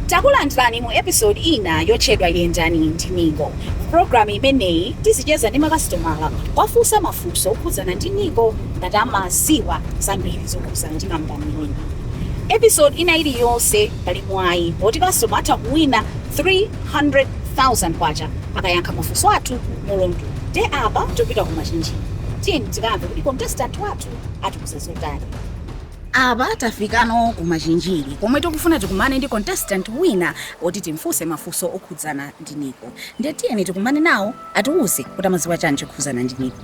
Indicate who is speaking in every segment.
Speaker 1: takulandirani mu episode ina yotchedwa yendani ndi Nico pulogalamu imeneyi tizicheza ndi makasitomala kuwafunsa mafunso okhudzana ndi Nico ngati amaziwa zambiri zokhudzana ndi kampani imeneyi episode ina iliyonse pali mwayi oti kasitomala atha kuwina K300,000 akayankha mafunso athu muluntu nde apa topita ku Machinjiri tiyeni tikamve kuti contestant wathu atiuza zotani. Apa tafikano ku Machinjiri komwe tikufuna tikumane ndi contestant wina oti timfunse mafunso okhudzana ndi Nico nde tiyeni tikumane nawo atiuze kuti amaziwa chani chokhuzana ndi Nico.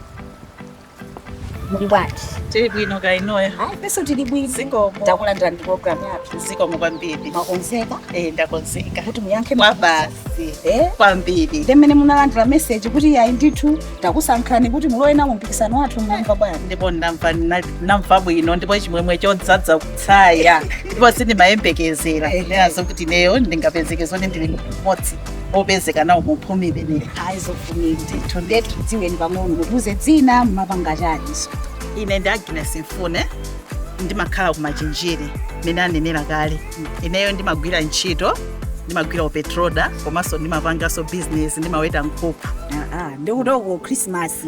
Speaker 1: Muli bwanji? Tili bwino
Speaker 2: kaya inuyo? Hayi, ifenso tili
Speaker 1: bwino. Zikomo.
Speaker 2: Takulandirani ku
Speaker 1: programu yathu. Zikomo
Speaker 2: kwambiri. Mwakonzeka Eh,
Speaker 1: ndakonzeka.
Speaker 2: kuti muyankhe Mwa mafunso?
Speaker 1: basi.
Speaker 2: Eh? Kwambiri. Ndi mmene munalandira
Speaker 1: meseji kuti yayi ndithu takusankhani kuti mulowe nawo mpikisano wathu munamva bwanji? ndipo ndamva
Speaker 2: na- namva bwino ndipo chimwemwe chodzaza kutsaya ndipo sindimayembekezera Ehe. ndinazo kuti neyo ndingapezeke zoti ndili mmodzi opezeka nawo mu phumi imeneyi
Speaker 1: aizofumiri ndithu ndetu dziweni pang'ono mutiuze dzina mumapanga chaniso ine ndi
Speaker 2: agnes mfune ndimakhala kumachinjiri mene anenera kale ineyo ndimagwira ntchito ndimagwira upetroda komanso ndimapanganso bizinesi ndimaweta nkhuku ndikuti uko
Speaker 1: khrisimasi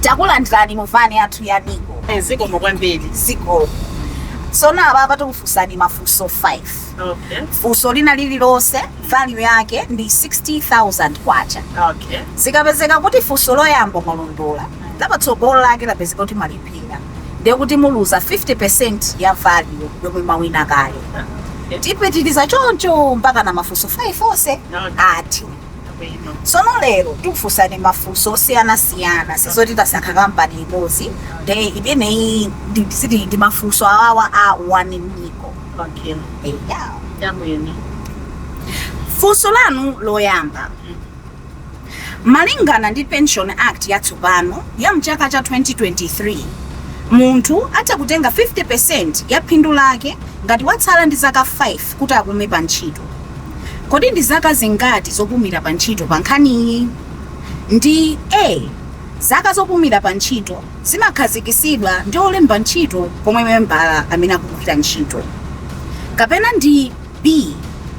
Speaker 1: takulandirani mu vani yathu ya Nico zikomo
Speaker 2: kwambiri
Speaker 1: zikomo tsono apapa tikufunsani mafunso 5 okay funso
Speaker 2: lina
Speaker 1: lililonse value yake ndi 60000 kwacha okay
Speaker 2: zikapezeka
Speaker 1: kuti funso loyamba mwalondola lapatsogolo lake lapezeka kuti mwalephera ndiye kuti muluza 50% ya value yomwe mwawina kale tipitiriza choncho mpaka na mafunso 5 onse Okay. ati Sono lero tikufusani mafunso osiyana siyana sizoti tasankha kampani imodzi nde imeneyi ndi- siti ndi mafunso awawa a one Nico Okay.
Speaker 2: yeah. Chabwino.
Speaker 1: funso lanu loyamba malingana ndi pension act yatsopano ya mchaka cha 2023 munthu atha kutenga 50% ya phindu lake ngati watsala ndi zaka 5 kuti apume pantchito. Kodi ndi zaka zingati zopumira pantchito pankhaniyi? Ndi a. Zaka zopumira pantchito zimakhazikisidwa ndi olemba ntchito komwe membala amene akugwira ntchito kapena ndi B.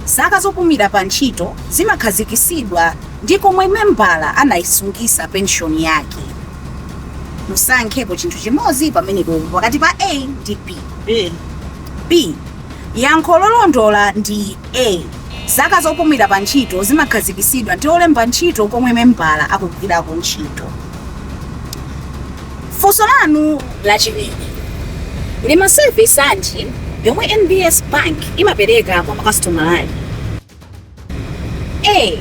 Speaker 1: Zaka zopumira pantchito zimakhazikisidwa ndi komwe membala anaisungisa penshoni yake. Musankhepo chinthu chimodzi pamenepopo pakati pa A ndi B. B. B. Yankho lolondola ndi A. Zaka zopumira pa ntchito zimakhazikisidwa ndi olemba ntchito komwe membala akugwirako ntchito. Funso lanu lachiwiri, Ndi ma service anji yomwe NBS Bank imapereka kwa makasitomala ake? A.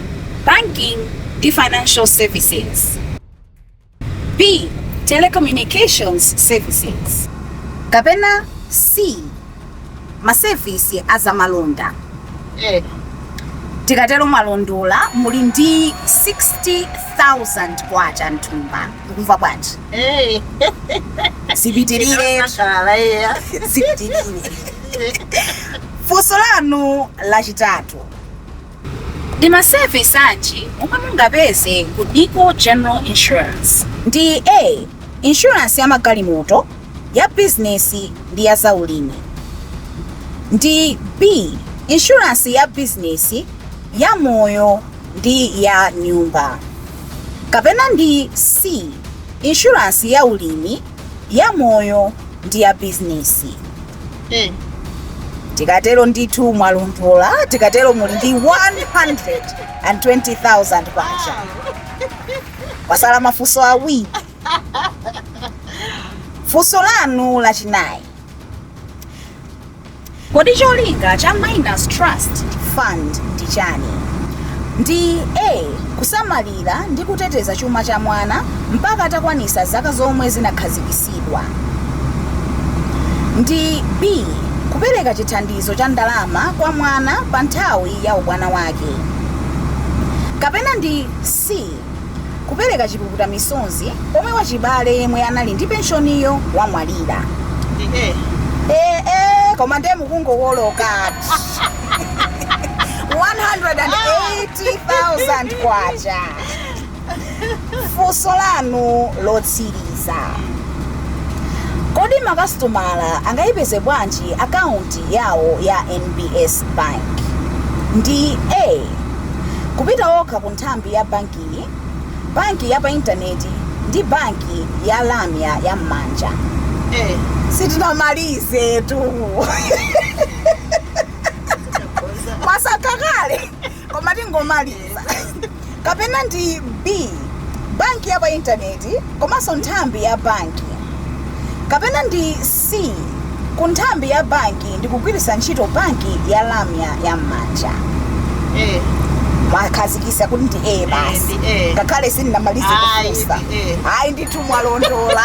Speaker 1: Banking ndi financial services. B. Telecommunications services. Kapena C. Masevisi azamalonda. Eh. Tikatero mwalondola muli ndi 60,000 kwacha m'thumba. Mukumva bwanji? Eh. Zipitirire. Mashala eh. Zipitirire. Funso lanu lachitatu. Ndi ma service anji omwe mungapeze ku NICO General Insurance? Ndi A insurance ya magalimoto, ya business ndi ya za ulimi. Ndi B insurance ya business, ya moyo ndi ya nyumba. Kapena ndi C insurance ya ulimi, ya moyo ndi ya business. Eh. tikatero ndithu mwalondola tikatero muli ndi 120,000 kwacha kwasala mafunso awiri funso lanu lachinayi kodi cholinga cha minors trust fund ndi chani ndi a kusamalira kusamalira ndi kuteteza chuma cha mwana mpaka atakwanisa zaka zomwe zinakhazikisidwa ndi B. Kupereka chithandizo cha ndalama kwa mwana pa nthawi ya ubwana wake kapena ndi C. Kupereka chipukuta misozi pomwe wachibale yemwe anali ndi penshoniyo wamwalira. Ndi A. Eh, eh, koma ndiye mukungowoloka 108 80,000 kwacha funso lanu lotsiriza kodi makasitomala angayipeze bwanji akaunti yawo ya nbs bank ndi a kupita okha ku nthambi ya bankiyi banki ya pa intaneti ndi banki ya lamya ya m'manja Eh. sitinamalizetu mwasankha kale koma tingomaliza kapena ndi b banki ya pa intaneti komanso nthambi ya banki kapena ndi c ku nthambi ya banki ndi kugwiritsa ntchito banki ya lamya ya m'manja Eh, mwakhazikisa kuti ndi a basi Eh, ndi A. ngakhale sindinamalize Ayi, kufunsa ndi A. ayi ndithu mwalondola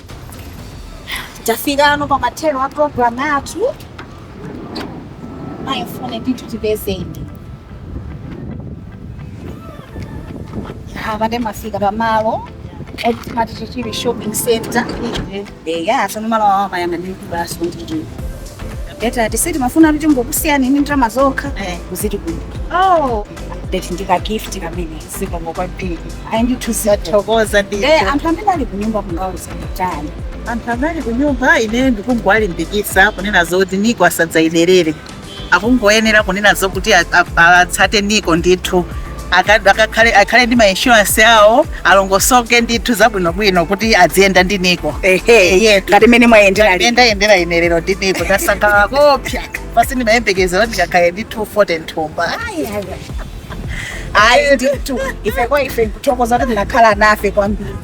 Speaker 1: Tafikano pa mathero a program yathu. Ayi ndithu tipezeni. Apa nde mwafika pa malo oti timati chichiri shopping center. Eya, tsono malo awa amayamba ndi basi kuti. Timafuna tingokusiyani ndi ndalama zokha. Kuziti kuno. Oh, ndeti ndika gift kamene zikomo kwambiri. Ayi ndithu Tathokoza ndithu. Eh, anthu amene ali kunyumba mungawauze
Speaker 2: chani anthu amene ali kunyumba ine ndikungowalimbikisa kunena zoti nico asadzayiderere akungoyenera kunena zokuti a- a- atsate nico ndithu Aka- akakhale- akhale ndi mainshuransi awo alongosoke ndithu zabwinobwino kuti aziyenda ndi nico ehe ngati
Speaker 1: mene mwayendera lero. ndayendera ine lero
Speaker 2: ndi nico ndasangalala koopsa sa- si ndimayembekeza kuti ndikakhale ndi 240 mthumba Ayi, ayi, ayi.
Speaker 1: ayi ndithu ife kwa ife kuthokoza kuti munakhala nafe kwambiri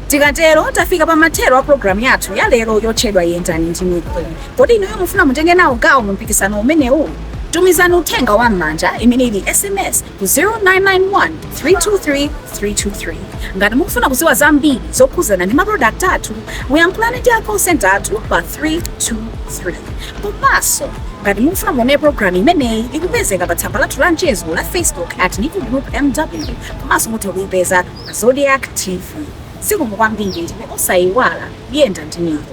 Speaker 1: tikatero tafika pa mathero a programu yathu ya lero yotchedwa yendani ndi nico kodi inuyo mufuna mutenge nawo gawo mu mpikisano umenewu tumizani uthenga wa m'manja imene ili sms ku 0991 323 323 ngati mukufuna kudziwa zambiri zokhudzana ndi maprodakti athu muyankhulane ndi a call center athu pa 323 komanso ngati mukufuna kuonera programu imeneyi ikupezeka pa tsamba lathu la mchezo la facebook at nico group mw komanso mutha kuipeza pa zodiak tv zikomo kwambiri ndipo osayiwala yenda ndi nico